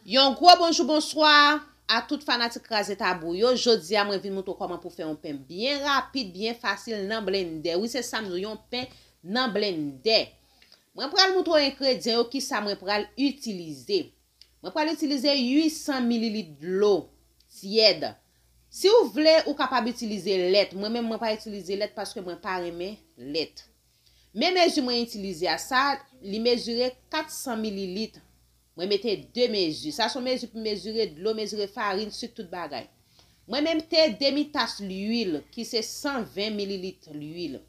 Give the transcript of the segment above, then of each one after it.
Yon gwo bonjou bonswa a tout fanatik kraze tabou yo, jodi a mwen vin moutre w kòman pou fè yon pen byen rapid, byen fasil nan blendè, wi se sam di w yon pen nan blendè. Mwen pral moutre w engredyan yo kisa mwen pral itilize. Mwen pral itilize 800 mililit dlo tyèd, si w vle ou kapab itilize lèt, mwen menm mwen pa itilize lèt paske mwen pa renmen lèt. Men mezi mwen itilize a sa li mezire 400 mililitre mwen mete 2 mezi sa son mezi pou mezire dlo mezire farin suk tout bagay mwen memte demi tas luil ki se 120 mililitre luil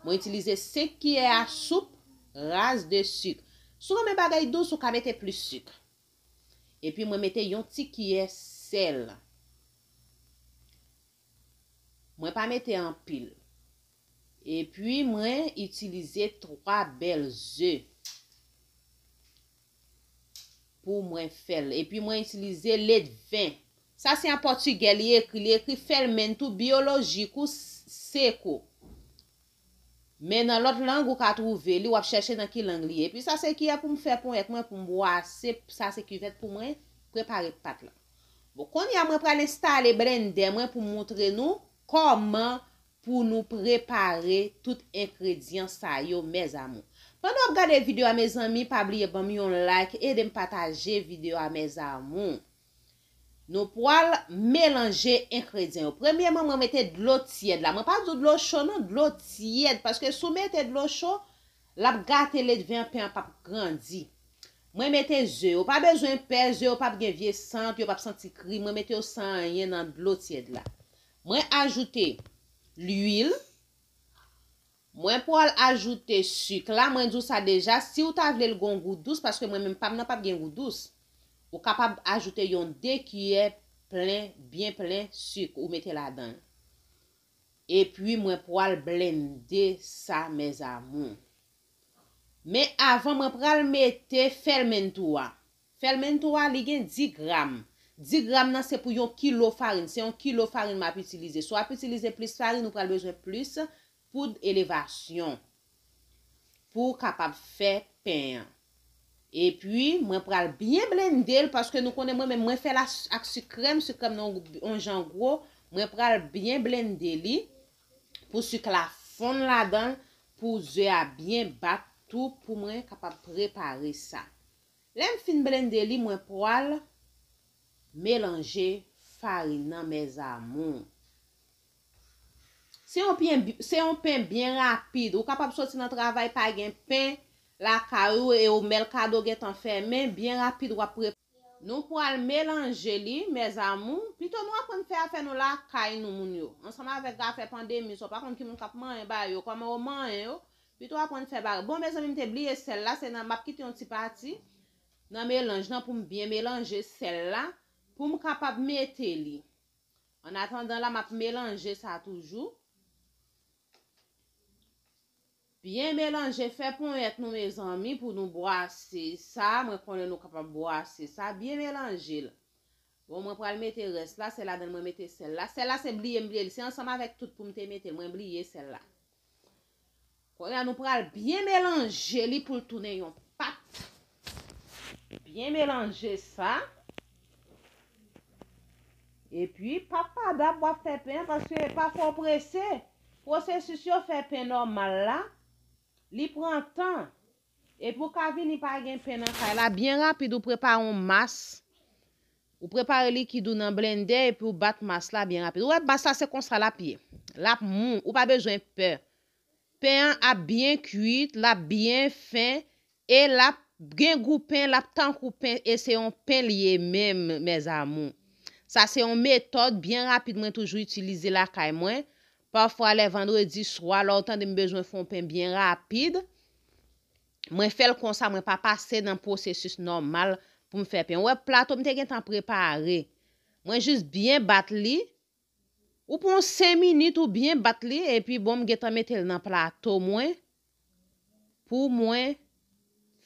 mwen itilize 5 kiyè a soup raz de suk sou renmen bagay dous ou ka mete plis suk epi mwen mete yon ti kiyè sèl mwen pa mete anpil. Epi mwen itilize 3 bèl ze pou mwen fèl. Epi mwen itilize ledven. Sa se an pòtugè li ekri. Li ekri fermento biológico seco. Men nan lòt lang ou ka twouve li, w ap chèche nan ki lang li ye. Epi sa se kiyè pou m fè ponyèt mwen pou m bwase, sa se kivèt pou mwen prepare pat la. Bon, kounye a mwen pral enstale blendè mwen pou m moutre nou kòman Pou nou prepare tout enkredyan sa yo mes amours. Pandan wap gade video a mezanmi pa bliye banm yon like edem pataje video a mes amours. Nou pwal melanje enkredyan yo. Premyeman mwen mete dlo tyèd la mwen pa du dlo cho non dlo tyèd paske sou mete dlo cho lap gate ledven an pen an pap grandi. Mwen mete ze yo pa bezwen pè ze yo pap gen vye sant yo pap santi kri mwen mete yo san anyen nan dlo tyèd la. Mwen ajoute lwil. Mwen pwal ajoute suk la, mwen di w sa deja, si w ta vle l gon gou dous, paske mwen menm pa m nan pap gen gou dous, ou kapab ajoute yon 2 kiyè plen, byen plen suk ou mete ladan l. Epi mwen pwal blende sa mes amours. Men avan mwen pral mete fèlmentou a. Fèlmento a li gen 10 gram. 10 gram nan se pou yon kilo farin. Se yon kilo farin map itilize. Si wap itilize plis farin ou pral bezwen plis poud elevasyon pou ou kapab fè pen an. Epi mwen pral byen blende l paske nou konnen mwen menm mwen fè l ak sik krèm, sik krèm nan yon jan gwo. Mwen pral byen blende li pou sik la fonn ladan l pou ze a byen bat tou pou mwen kapab prepare sa. Lèm fin blende li mwen pwal melanje farin nan mes amours. Se yon pyen se yon pen byen rapid ou kapab soti nan travay pa gen pen lakay ou e ou melkado gentan fèmen byen rapid wap pre. Nou pwal melanje li mes amours pito nou aprann fè afè nou lakay nou moun yo ansanm avek afè pandemi sa ou pa konn ki moun kap manyen ba yo koman ou manyen yo Pito aprann fè bagay. Bon mezanmi m te bliye sèl la se nan map kite yon ti pati nan melanj lan poum byen melanje sèl la poum kapab mete li an atandan la map melanje sa toujou byen melanje fè ponyèt nou mezanmi pou nou bwase sa mwen konnen nou kapab bwase sa byen melanjel bon mwen pral mete rès la se ladann mwen mete sèl la sèl la se bliyem bliyel se ansanm avèk tout poum te metel mwen bliye sèl la. Konya nou pral byen melanje li pou l tounen yon pat. Byen melanje sa. E pi pa pa dap wap fè pen an paske pa fò prese. Pwosesis yo fè pen nòmal la. Li pran tan. E pi ou ka vini pa gen pen nan kay la. Byen rapid ou prepare yon mas. Ou prepare likid ou nan blendè epi ou bat mas la byen rapid. Ou wè mas la se konsa l ap ye. L ap mou. Ou pa bezwen pè. Pen an ap byen kuit, l ap byen fen e l ap gen gou pen, l ap tankou pen e se yon pen li ye menm mes amour. Sa se yon metòd byen rapid mwen toujou itilize lakay mwen. Pafwa lè vandredi swa la ou tande m bezwen fè yon pen byen rapid. Mwen fè l konsa mwen pa pase nan pwosesis nòmal pou m fè pen. Ou wè plato m te gentan prepare. Mwen jis byen bat li. Ou pran yon 5 minit ou byen bat li epi bon m gentan mete l nan plato mwen pou mwen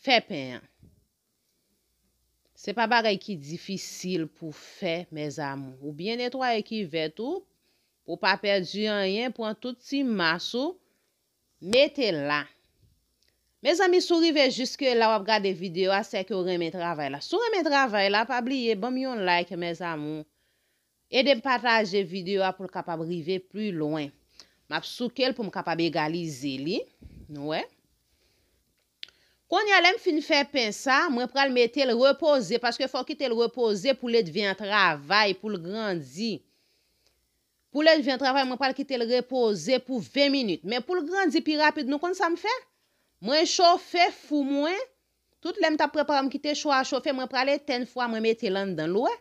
fè pen an. Se pa bagay ki difisil pou fè mèzamou. Ou byen netwaye kivèt ou pou w pa pèdi anyen. Pran tout ti mas ou. Mete la. Mezanmi si w rive jiske la wap gade video a sèke w renmen travay la si w renmen travay la pa bliye banm yon like mes amour edem pataje video a pou l kapab rive pli lwen map souke l pou m kapab egalize li nou wè Konya lèm fin fè pen sa mwen pral metel repoze paske fòw kitel repoze pou ledvin an travay poul grandi Pou lè l vin travay mwen pral kite l repoze pou 20 minit men pou l grandi pi rapid nou konn sa m fè? Mwen chofe fou mwen, tout lè m t ap prepare m kite cho a chofe mwen pral etenn fou a mwen mete l anndan l wè?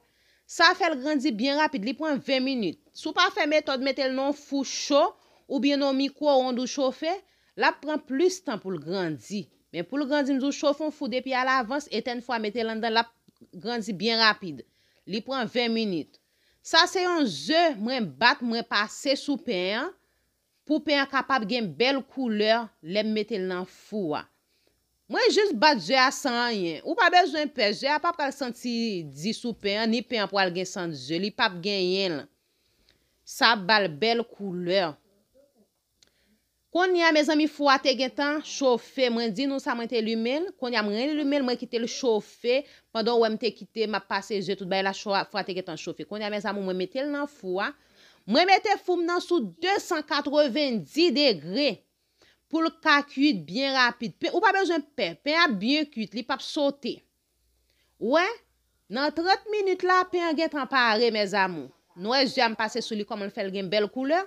Sa fè l grandi byen rapid li pran 20 minit. Si w pa fè metòd mete l nan yon fou cho oubyen nan yon mikwo ond ou chofe, l ap pran plis tan pou l grandi. Men pou l grandi m di w chofe yon fou depi alavans etenn fou a mete l anndan l ap grandi byen rapid li pran 20 minit. Sa se yon ze mwen bat mwen pase sou pen an pou pen an kapab gen bèl koulè lè m mete l nan fou a. Mwen jis bat ze a san anyen. Ou pa bezwen pè, ze a pa pral santi di sou pen an, ni pen an pral gen sant ze, li pap genyen l. Sa ap ba l bèl koulè. Konnya mezanmi fou a te gentan chofe mwen di nou sa mwen te limenl konnya m re limenl mwen kitel chofe pandan ou wèm te kite map pase ze tout bagay la fou a te gentan chofe konnya mes amour mwen metel nan fou a mwen mete foum nan sou 290 degre poul ka kuit byen rapid pen ou pa bezwen pè pen ap byen kuit li pap sote ou wè nan 30 minit la pen an gentan pare mes amour nwè ze a m pase sou li kòmanl fèl gen bèl koulè.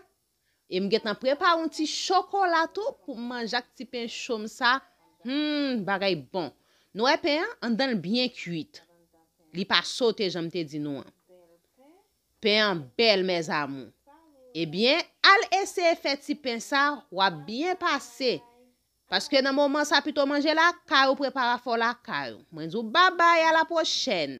E m gentan prepare yon ti chokola tou pou m manje ak ti pen cho m sa, humm bagay bon. Nou wè pen an, anndan l byen kuit. Li pa sote jan m te di nou an. Pen an bèl mes amours. Ebyen, al eseye fè ti pen sa, w ap byen pase. Paske nan moman sa pito manje lakay ou prepare afè w lakay ou. Mwen di w babay a la pwochèn.